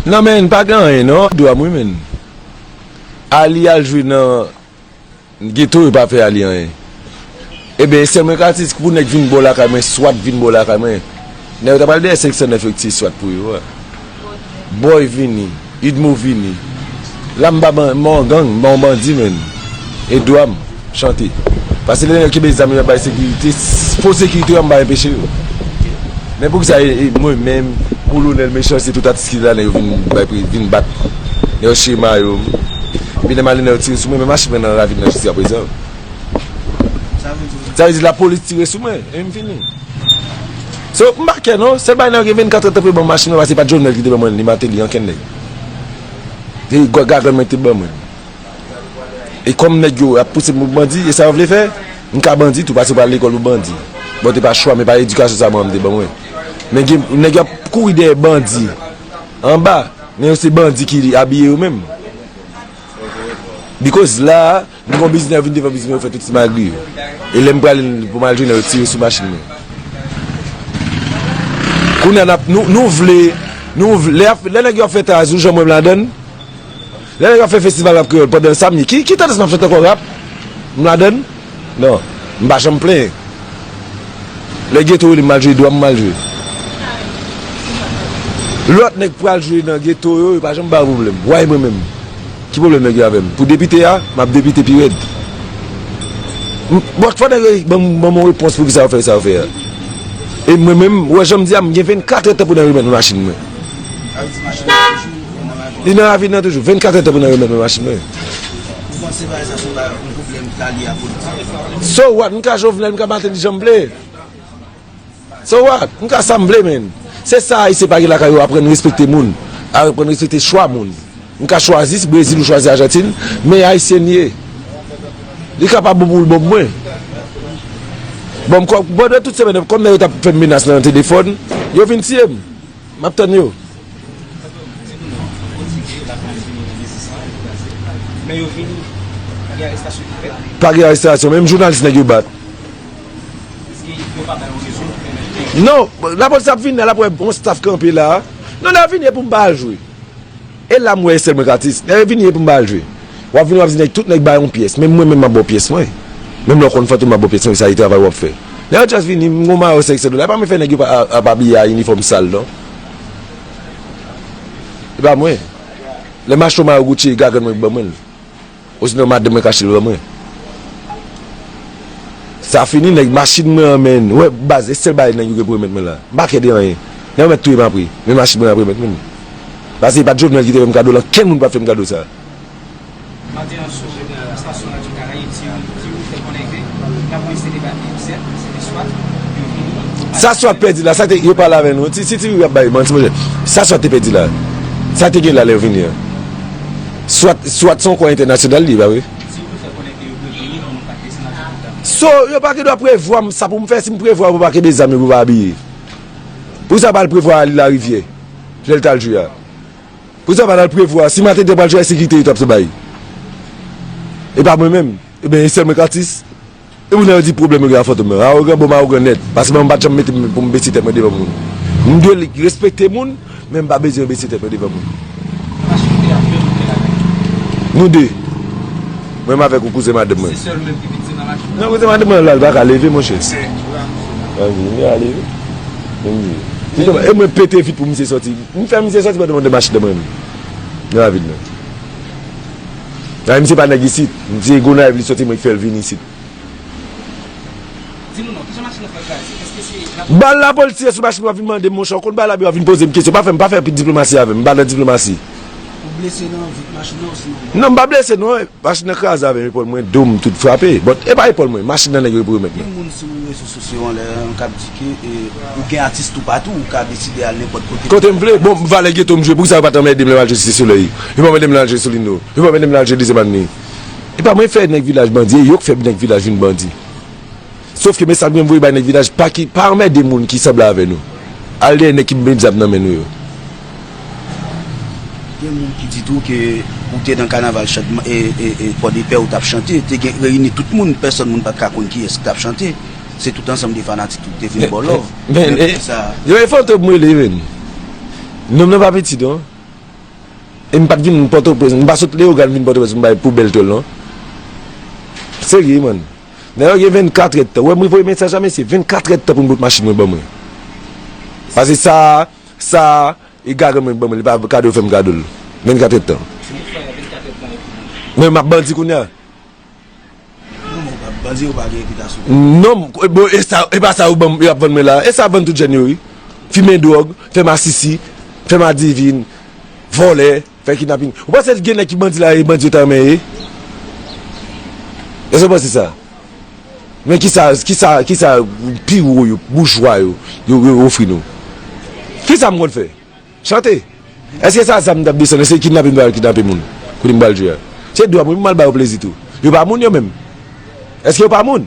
Nan menn pa gen anyen non. Dwa m wi menn. Ali al jwe nan Ghetto yo pa fè Ali anyen. Eben sèl mwen ka di se pou nèg vin bò lakay mwen swat vin bò lakay mwen. Nèg yo ta pral dèyè 509 yo ki te swat pou yo a. Boy vini, Udmo vini. La m pa ban m pa yon gang, m pa yon bandi menn. E dwa m. Chante. Pase lè nèg yo kenbe zam yo ap bay sekirite, fo sekirite yo anba enpeche yo. Men poukisa mwen menm, kolonèl, mechan se tout atis ki te la nèg yo vin bay pri, vin bat. Nèg yo chire mayo m. Epi lè m ale nèg yo tire sou mwen, men mache mwen nan ravin nan jiska prezan. Sa vle di. Sa vle di lapolis tire sou mwen, epi m fini. So, m pa kè non. Sèl bagay nèg yo gen 24 èd tan pou yo ban m machin mwen pase se pa t Jovenel ki te ban mwen li, ni Martelly, ankenn nèg. Se gagant mwen ki te ban mwen. E kòm nèg yo ap pouse m pou m bandi, e sa yo vle fè? M ka bandi tou, pase pral lekòl pou bandi. Bon, te pa chwa m, e pa edikasyon sa manman m te ban mwen. Men gen nèg yo ap kouri dèyè bandi anba, men yo se bandi ki abiye yo menm. Bikòz la a, m gen yon biznis, yo vin devan biznis mwen, yo fè tout simagri yo. E lè m prale pou m al jwenn yo, yo tire sou machin mwen. Kounye a, nou vle, lè nèg yo ap fè traz, ou janm wè m ladann? Lè nèg ap fè festival rap kreyòl pandan sa mi ki tandans map chante ankò rap m ladann nan m pa janm plenyen lè geto rele m mal jwe dwa m mal jwe lòt nèg pral jwe nan geto yo yo pa janm ba yo pwoblèm why mwen menm ki pwoblèm nèg yo avè m pou depite a map depite pi rèd bon fò nèg yo ban m yon repons poukisa yo fè sa yo fè a e mwen menm wè jan m di a m gen 24 èd tan pou nan remèt m machin mwen. Li nan lavi nan toujou. 24 èd tan pou nan remèt mwen machin mwen. Ou panse bagay sa son bagay yon pwoblèm ka lye a politik? So what? M ka Jovenel, m ka Martelly jan m vle. So what? M ka sa m vle menn. Se sa ayisyen pa gen lakay yo aprann respekte moun. Aprann respekte chwa moun. M ka chwazi si Brezil ou chwazi Ajantin, men ayisyen m ye. Li ka pa bon pou l bon pou mwen. Bon m kòm, pandan tout semèn nan, kòm nèg yo t ap fè m menas nan telefòn, yo vin tiye m. Map tann yo. Pa gen arestasyon menm jounalis nèg yo bat. Non lapolis ap vini la lap wè bon staff kanpe la. Non lap vini epoum pa al jwe. E la m wè e sèl mwen k atis. Dayè vini e pou m ba l jwe. W ap vini w ap di nèg tout nèg ba yon pyès. Menm mwen menm m ap ba w pyès mwen. Menm lè w konn fantom m ap ba w pyès mwen sa e travay w ap fè. Lè yon atis vini m gen yon mayo 500 dola e pa mwen fè nèg yo ap abiye a inifòm sal non. E pa mwen. Lè m achte yon mayo Gucci e gagann mwen ki ban mwen l. Osinon madanm mwen kachel ban mwen. Sa fini nèg machin mwen an menn. Wè baz e sèl bagay nèg yo gen pou remèt mwen la. M pa kè de anyen. Nèg yo mèt touyem apre. Men machin mwen ap remèt mwen li. Baz e pat Jovenel ki te fèm kado lan kenn moun pap fèm kado sa. Maten an sou estasyon radyo Karayib ti Wi fè konnen ke lapolis te debake yon sèk, se te swat, yo vini pou pale. Sa swat pèdi la? Sa te yo pale avè nou? Si ti Wi ap bay manti monchè, sa swat te pèdi la? Sa te gen la lè yo vini an? Swat, swat se yon kò entènasyonal li ye ba wi. Si w te fè konnen ke yo dwe peye pou nou pa te snatch tout zam yo. So, yo pa gen dwa prevwa m sa pou m fè, si m prevwa pou pa kenbe zam yo pou pa abiye. Pou sa pa al prevwa al larivyè, lè l t al jwe a. Pou sa pa t al prevwa, si Matador pral jwe a e sekirite yo t ap se bay. E pa mwen menm. Ebyen e sèl mwen k atis? Epi lè yo di pwoblèm yo gen ak fantom yo, awogan bon m awogan nèt, paske mwen m pat janm mete m pou m bese tèt mwen devan moun. M dwe respekte moun, men m pa bezwen bese tèt mwen devan moun. Mache kote yap jwenn ou gen lagèt ou menm? Nou 2. Mwen menm avèk ou kouzen madanm mwen. Se sèl ou menm ki vin se nan machin nan? Non kouzen madanm mwen la li paka leve monchè. Mwen menm tou la misye la. An vini a leve. Menm zi. Se kòman e mwen pete vit pou misye sòti. M fè misye sòti pandan m andan machin nan mwen menm. Nan lavil la. Dayè misye pa nèg isit. Misye Gonayiv li soti mwen ki fè l vin isit. Di nou non, kijan machin nan fè kraze? Eske se la polis? Bal la polis tire sou machin wap vin mandem monchè ou konn bal abi wap vin pozem kesyon pa fèm pa fè diplomasi avèm m pa nan diplomasi. Ou blese nan vit machin nan osinon ou Non m pa blese non machin nan kraze avèm epòl mwen dom tout frape but epa epòl mwen machin nan nèg yo pou yo mèt mwen. Sou se yon lè an kap di ke ou gen atis toupatou ou ka deside al nenpòt kote. Kote m vle. Bon valè geto m jwe poukisa yo pat anmède m lè m al jwe Site Solèy? Yo pa anmède m lè m al jwe Solino? Yo pa anmède m lè m al jwe Dezyèm Avni? E pa mwen fè nèg vilaj bandi e yo k fè nèg vilaj vin bandi. Sof ke mesaj mwen voye bay nèg vilaj pa ki pa anmède moun ki sanble avè nou. Al dèyè nèg ki bmèt zam nan men nou yo. Gen moun ki di tou ke ou te nan kanaval Pòdepè ou tap chante, te gen reyini tout moun, pèsòn moun pat ka konn kiyès ki tap chante, se tout ansanm de fanatik tou ki te vin baw love, men poukisa. Yo e Fantom m rele menm. Nonm nan pa piti non. E m pat vin Pòtoprens, m pa sot Leyogàn vin Pòtoprens pou m bay poubèl tòl non. Serye man. Nèg la gen 24 èdtan. Ou wè m voye mesaj la mesye, 24 èdtan pou m bout machin mwen ban mwen. Pase sa. Sa e gade mwen banm li pa kado fèm kadol 24 èd tan. Ti bout faya 24 èd tan epi li. Men map bandi kounya. Non men pap bandi yo pa gen repitasyon pou yo. Non bon esa epa sa yo banm yo ap vann mwen la esa ap vann tout jèn yo wi fimen dròg fè masisi fè madivin vòlè. Fè kidnaping. Ou panse gen nèg ki bandi la e bandi yo ta renmen ye? Èske w panse sa? Men kisa kisa kisa pi wo yo, boujwa yo, yo yo ofri nou? Kisa m konn fè? Chante! Èske sa zam m t ap desann? Èske kidnaping m t ap al kidnape moun? Kote m pral jwe a? Se dwa m wi pou m al ba yo plezi tou. Yo pa moun yo menm? Èske yo pa moun?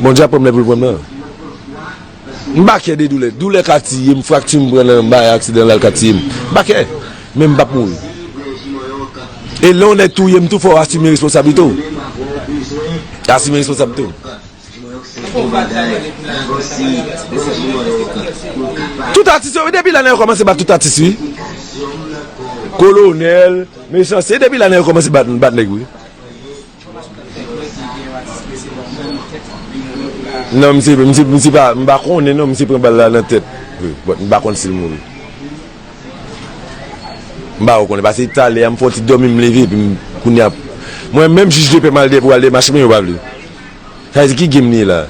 Bondye ap pranm lè poul pranm nan. M pa kè de doulè. Doulè ka tiyem, frakti m pran nan bagay aksidan la l ka tiyem. M pa kè. Men m pap mouri. E lè yon nèg touyem tou fòw asime responsablite w. Asime responsablite w. Tout atis yo wi depi la nèg yo komanse bat tout atis wi kolonèl mechan se depi la nèg yo komanse bat nèg wi nan misye misye pa m pa konnen non misye pran bal la nan tèt but m pa konn sil mouri m pa konnen pase talè a m fon ti dòmi m leve epi m kounya mwen menm jij depè m al depè m al demache men yo pa vle. Sa vle di ki game nou ye la?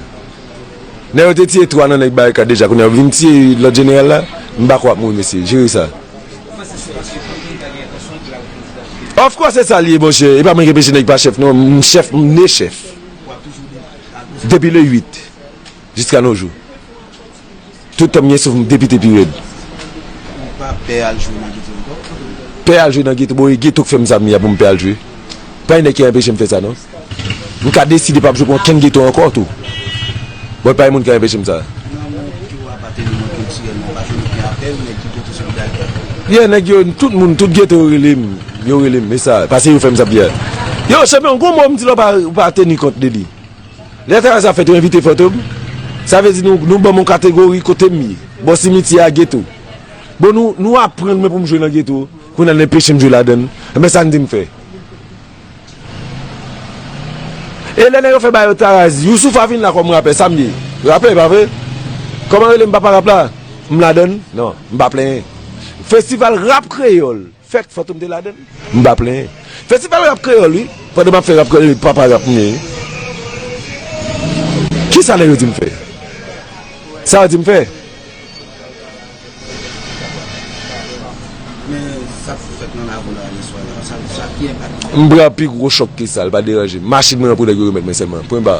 Nèg yo te tiye 3 nan nèg barikad deja kounya yo vin tiye lòt jeneral la? M pako ak moun mesye, jere sa. Ou panse se paske Fantom ta gen entansyon pou l al prezidan vre? Of course se sa li ye monchè, e pa mwen ki enpeche nèg pa chèf non, m chèf, m ne chèf. Ou ap toujou depi le 8. Jiska no jou. Tout tan m gen souf m depite pi red. Ou pa pè al jwe nan geto ankò? Pè al jwe nan geto? Bon e geto k fè m sa m ye a pou m pè al jwe? Pa gen nèg ki anpeche m fè sa non. M ka deside pa jwe pou ankenn geto ankò tou. Bon e pa gen moun ki anpeche m sa. Nan moun ki ou apateni yo kiltirèlman, pa toujou gen apèl nèg ki geto solidarite ak ou? Ye nèg yo, tout moun, tout geto yo rele m. Yo rele m. E sa? Pase yo fè m sa m ye a. Yo, chanpyon, gon mo m di la ou pa teni kont de li. Lè travay sa fèt yo envite fantom sa vle di nou banm yon kategori kotem ye bò simityè a geto bon nou nou aprann mwen poum jwe nan geto kounya nou enpechem jwe ladann enben sa nou dim fè e lè nèg yo fè ba yo taraz yousoufa vin la kòm rapè sam ye rapè pa vre kòman relem papa rap la m ladann nan m pa plenyen festival rap kreyòl. Fèt Fantom te ladan l? M pa plenyen. Festival Rap Kreyòl wi, pandan m ap fè Rap Kreyòl e papa Rap m ye. Ki sa nèg yo di m fè? Sa yo di m fè? M pran pi gwo chòk ke sa, l pa deranje m. Machin mwen an pou nèg yo remèt mwen sèlman. Pwen ba.